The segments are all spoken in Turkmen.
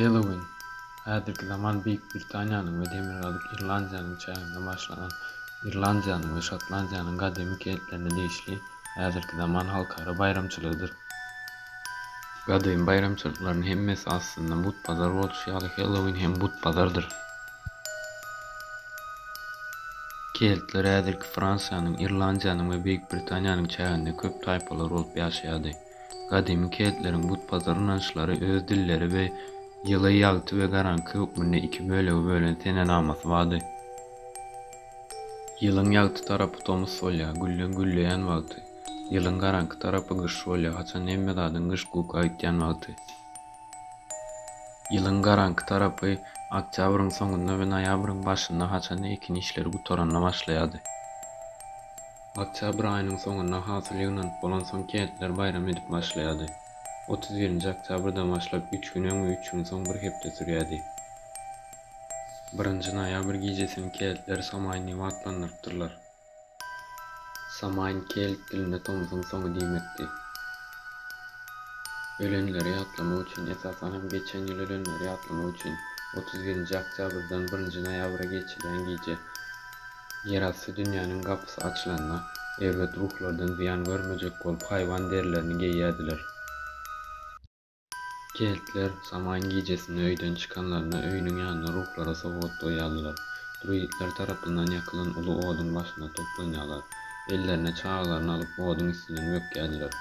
Hellowin, häzirki zaman Beýik Britaniýanyň we Demirgazyk Irlandiýanyň çäginde başlanan Irlandiýanyň we Şotlandiýanyň gadymy keltlerine degişli häzirki zaman halkara baýramçylygydyr. Gadymy baýramçylyklaryň hemmesi aslynda but-bazar bolşy ýaly Hellowin hem but-bazardyr. Keltler häzirki Fransiýanyň, Irlandiýanyň we Beýik Britaniýanyň çäginde köp taýpalar bolup ýaşaýardy. Gadymy keltleriň butpazar ynançlary öz dilleri we ýyly, ýagty we garaňky hökmünde iki bölege bölen senenamasy bardy. Ýylyň ýagty tarapy tomus bolýar, gülleň gülleýän wagty. Ýylyň garaňky tarapy gyş bolýar, haçan hemme zadyň gyş-guk aýtýan wagty. Ýylyň garaňky tarapy oktýabryň soňunda we noýabryň başynda haçanda ekin işleri gutaranda başlaýardy. Oktýabr aýynyň soňunda hasyl ýygnanyp bolansoň kentler baýram edip başlaýardy. Otuz birinji oktýabrdan başlap üç gün öň we üç gün soň bir hepde sürýärdi. Birinji noýabr gijesini keltler Somaý Niwa atlandyrypdyrlar. Samain kelt dilinde tomsuň soňy diýmekdi. Ölenleri ýatlamak üçin, esasan hem geçen ýyl ölenleri ýatlamak üçin, otuz birinji oktýabrdan birinji noýabra geçilýän gije, ýerasty dünýäniň gapysy açylanda, erbet ruhlardan zyýan görmejek bolup haýwan derilerini geýýärdiler. Keltler Samaýyň gijesinde öýden çykanlarynda öýüniň ýanynda ruhlara sowgat goýýardylar. Druidler tarapyndan ýakylan uly oduň başynda toplanýarlar. Ellerine çagalaryny alyp oduň üstünden bökýärdiler.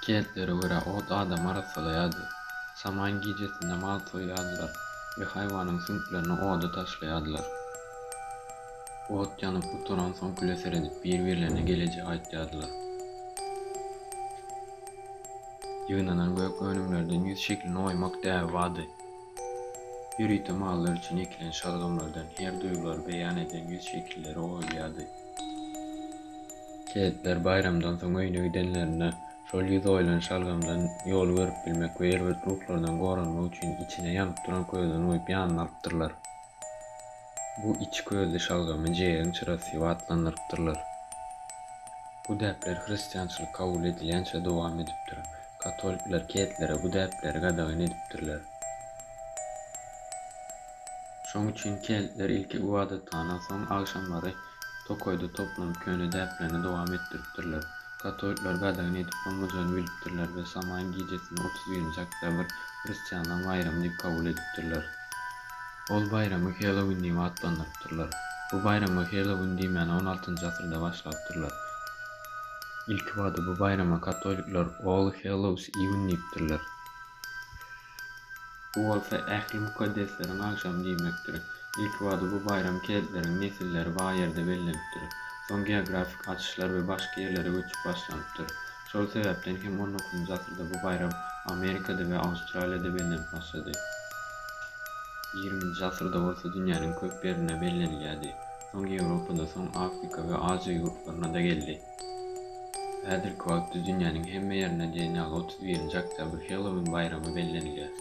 Keltlere görä ot adamy arassalaýardy. Samaýyň gijesinde mal soýýardylar we haýwanyň süňklerini oda taşlaýardylar. Ot ýanyp gutaransoň küle seredip bir-birlerine gelejegi aýtýardylar. Ýygnanan gök önümlerden ýüz şeklini oýmak däbi bardy. Ýörite mallar üçin ekilen şalgamlardan her duýgulary beýan eden ýüz şekilleri oýulýardy. Keýikler baýramdan soň öýüne gidenlerinde, şol ýüz oýulan şalgamdan ýoly görüp bilmek we erbet ruhlardan goranmak üçin içine ýanyp duran közden uýup ýanyna alypdyrlar. Bu içi közli şalgamy jeýegiň çyrasy diýip atlandyrypdyrlar. Bu däpler hristiançylyk kabul edilýänçä dowam edipdir. Katolikler, keltlere bu däpleri gadagan edipdirler. Şoň üçin keltler ilki ybadathana, soň agşamlary Tokaýda toplanyp köne däplerini dowam etdiripdirler. Katolikler gadagan edip bolmajany bilipdirler we Samaýyň gijesini otuz birinji oktýabr, hristianlaryň baýramy diýip kabul edipdirler. Ol baýramy Hellowin diýip atlandyrypdyrlar. Bu baýrama Hellowin diýmäni on altynjy asyrda başlapdyrlar. Ilkibada bu baýrama katolikler All Hallows Even diýipdirler. Bu bolsa ähli mukaddesleriň agşamy diýmekdir. Ilkibada bu baýram keltleriň nesilleri bar ýerde bellenipdir. Soň geografik açyşlar we başga ýerlere göçüp başlanypdyr. Şol sebäpden hem on dokuzynjy asyrda bu baýram Amerikada we Awstraliýada bellenip başlady. Ýigriminji asyrda bolsa dünýäniň köp ýerinde bellenilýärdi. Soň Ýewropada, soň Afrika we Aziýa ýurtlaryna-da geldi. Häzirki wagtda dünýäniň hemme ýerinde diýen ýaly otuz birinji oktýabr Hellowin baýramy bellenilýär.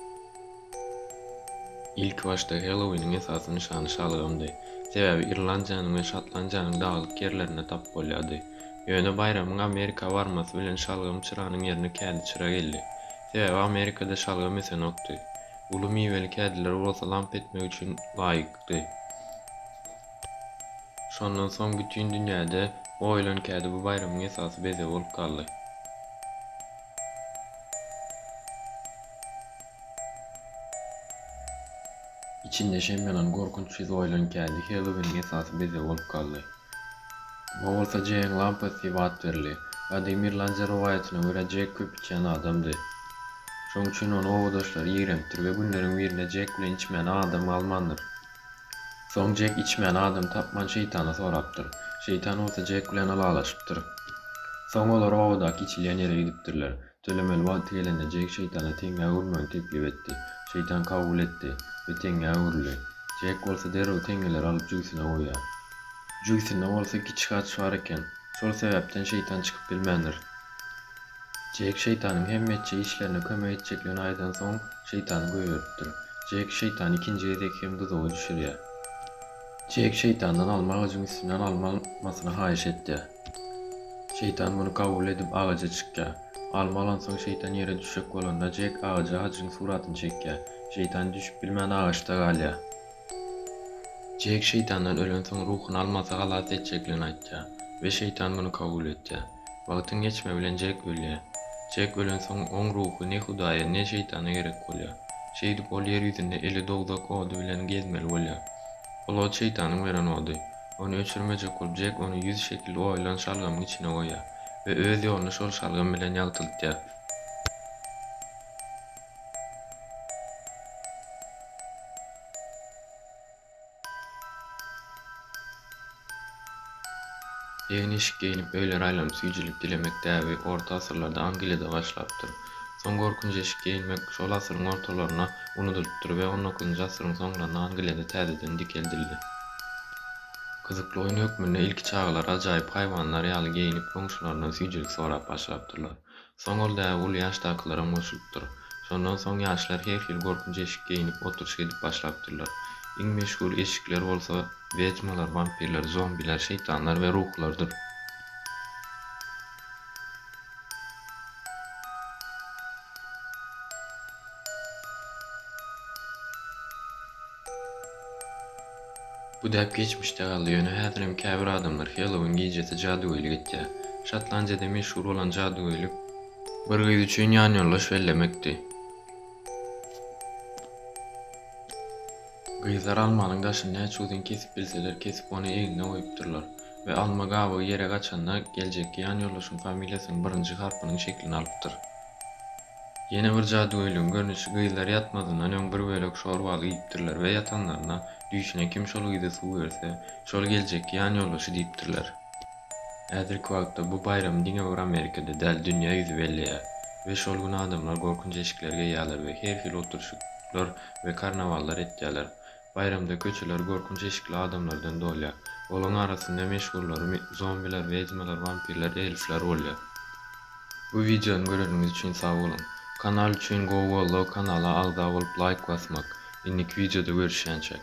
Ilkibaşda Hellowiniň esasy nyşany şalgamdy. Sebäbi Irlandiýanyň we Şotlandiýanyň daglyk ýerlerinde tapyp bolýardy. Ýöne baýramyň Amerika barmasy bilen şalgam çyranyň ýerine kädi çyra geldi. Sebäbi Amerikada şalgam ösenokdy. Uly miweli kädiler bolsa lamp etmek üçin laýykdy. Şondan soň bütin dünýäde goýulan kädi bu baýramyň esasy bezegi bolup galdy. Içinde şem ýanan gorkunç ýüz oýulan kädi Hellowiniň esasy bezegi bolup galdy. Muňa bolsa Jeýiň lampasy diýip at berildi. Gadymy irlandiýa rowaýatyna görä Jek köp içýän adamdy. Şoň üçin ony obadaşlary ýigrenipdir we günleriň birinde Jek bilen içmäne adam galmandyr. Soň Jek içmän adam tapman Şeýtana sorapdyr. Şeýtan bolsa Jek bilen ylalaşypdyr. Soň olar obadaky içilýän ýere gidipdirler. Tölemeli wagty gelende Jek Şeýtana teňňä öwrülmegini teklip etdi. Şeýtan kabul etdi we teňňä öwrüldi. Jek bolsa derrew teňňeleri alyp jübüsine goýýar. Jübüsinde bolsa kiçi gaç bar eken. Şol sebäpden Şeýtan çykyp bilmändir. Jek Şeýtanyň hemme etjek işlerine kömek etjekligini aýdansoň, Şeýtany göýeripdir. Jek Şeýtany ikinji gezek hem duzaga düşürýär. Jek Şeýtandan alma agajyň üstünden alma almasyny haýyş etýär. Şeýtan muny kabul edip agaja çykýar. Alma alansoň Şeýtan ýere düşjek bolanda Jek agaja hajyň suratyny çekýär. Şeýtan düşüp bilmän agaçda galýar. Jek Şeýtandan ölensoň ruhuny almasy halas etjekligini aýtýar we Şeýtan muny kabul etýär. Wagtyň geçmegi bilen Jek ölýär. Jek ölensoň, oň ruhy ne Hudaýa, ne Şeýtana gerek bolýar. Şeýdip, ol ýer ýüzünde eli dowzak ody bilen gezmeli bolýar. Ol ot Şeýtanyň beren ody. Ony öçürmejek bolup, Jek ony ýüz şekil oýulan şalgamyň içine goýýar we öz ýoluny şol şalgam bilen ýagtyltýar. Egin-eşik geýnip, öýlere aýlanyp süýjülik dilemek däbi orta asyrlarda Angliýada başlapdyr. Soň gorkunç eşik geýinmek şol asyryň ortalarynda unudylypdyr we on dokuzynjy asyryň soňlarynda Angliýada täzeden dikeldildi. Gyzykly oýun hökmünde ilki çagalar ajaýyp haýwanlar ýaly geýinip, goňşularyndan süýjülik sorap başlapdyrlar. Soň ol däbi uly ýaşdakylara goşulypdyr. Şondan soň ýaşlar her hili gorkunç eşik geýnip, oturyş edip başlapdyrlar. Iň meşhur eşikler bolsa wedmalar, wampirler, zombiler, şeýtanlar we ruhlardyr. Bu däp geçmişde galdy, ýöne häzirem käbir adamlar Hellowin gijesi jadygöýlik etýär. Şotlandiýada meşhur bolan jadygöýlik bir gyz üçin ýanýoldaş bellemekdi. Gyzlar almanyň daşyny näçe uzyn kesip bilseler, kesip ony egnine goýupdyrlar we alma gabygy ýere gaçanda geljekki ýanýoldaşyň familiýasynyň birinji harpynyň şeklini alypdyr. Ýene bir jadygöýligiň görnüşi gyzlar ýatmazyndan öň bir bölek şor baly iýipdirler we ýatanlarynda düýşüne kim şol gyza suw berse, şol geljekki ýan ýoldaşy diýipdirler. Häzirki wagtda bu baýramy diňe bir Amerikada däl, dünýä ýüzi belleýär we şol gün adamlar gorkunç eşikleri geýýärler we her hili oturyşyklar we karnawallar etýärler. Baýramda köçeler gorkunç eşikli adamlardan dolýar. Olaň arasynda meşhurlary mi, zombiler, wedmalar, wampirler, elfler bolýar. Bu wideony göreniňiz üçin sag boluň. Kanal üçin gowy goldaw kanala agza bolup laýk basmak. Indiki wideoda görüşýänçäk.